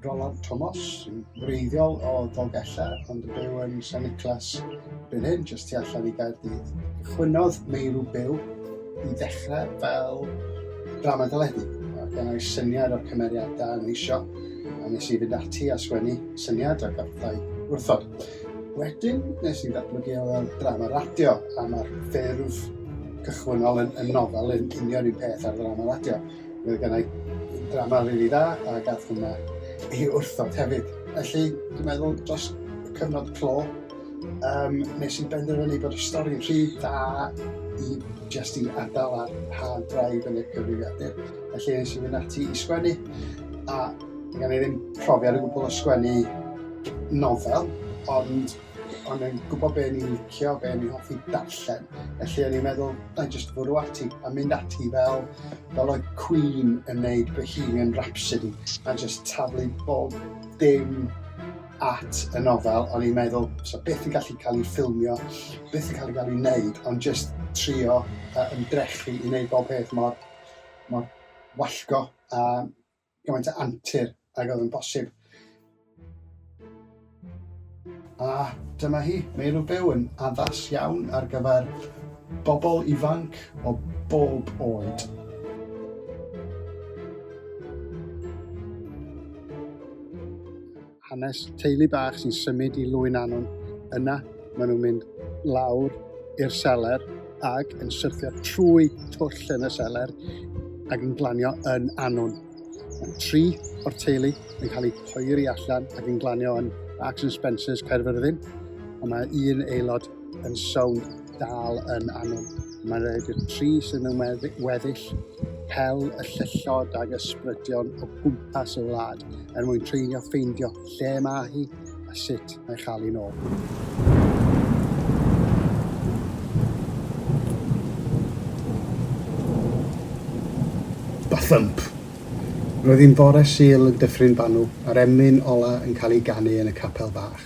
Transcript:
Roland Thomas, sy'n wreiddiol o Ddolgella, ond yn byw yn San Niclas fan hyn, jyst tu allan i Gaerdydd. Chwynodd Meirw Byw i ddechrau fel drama deledu. Gan ei syniad o'r cymeriadau yn eisiau, a nes i fynd ati a sgwennu syniad a gathau wrthod. Wedyn, nes i ddatblygu o fel drama radio, a mae'r ffurf cychwynnol yn, yn nofel yn union un peth ar drama radio. Mae gen i drama rili dda, a gath hwnna i wrthod hefyd. Felly, dwi'n meddwl, dros cyfnod clo, um, nes i benderfynu bod y stori'n rhy dda i jyst i adael ar hard drive yn y cyfrifiadur. Felly, nes i fynd ati i sgwennu, a Mae gen i ddim profiad o gwbl o sgwennu nofel, ond o'n i'n gwybod be ni'n licio, be ni'n hoffi darllen. Felly o'n i'n meddwl, na i jyst fwrw ati a mynd ati fel, fel oedd Queen yn neud Bohemian Rhapsody a jyst taflu bob dim at y nofel, o'n i'n meddwl, so beth yn gallu cael ei ffilmio, beth yn cael ei gael ei wneud, ond jyst trio uh, ymdrechu i wneud bob peth mor, mor wallgo a gymaint o antur ag oedd yn bosib. A dyma hi, Meirw Byw yn addas iawn ar gyfer bobl ifanc o bob oed. hanes teulu bach sy'n symud i Lwyn Anwn. Yna, maen nhw'n mynd lawr i'r seler ac yn syrthio trwy twll yn y seler ac yn glanio yn Anwn. Mae tri o'r teulu yn cael eu poeri allan ac yn glanio yn Marks and Spencer's Caerfyrddin, ond mae un aelod yn sownd dal yn anw. Mae'n rhaid i'r tri sydd mewn weddill pel y llyllod ag ysbrydion o gwmpas y wlad er mwyn treulio ffeindio lle mae hi a sut mae chael hi'n ôl. thump. Roedd hi'n fore Sul yn Dyffryn Banw a'r emyn ola yn cael ei ganu yn y capel fach.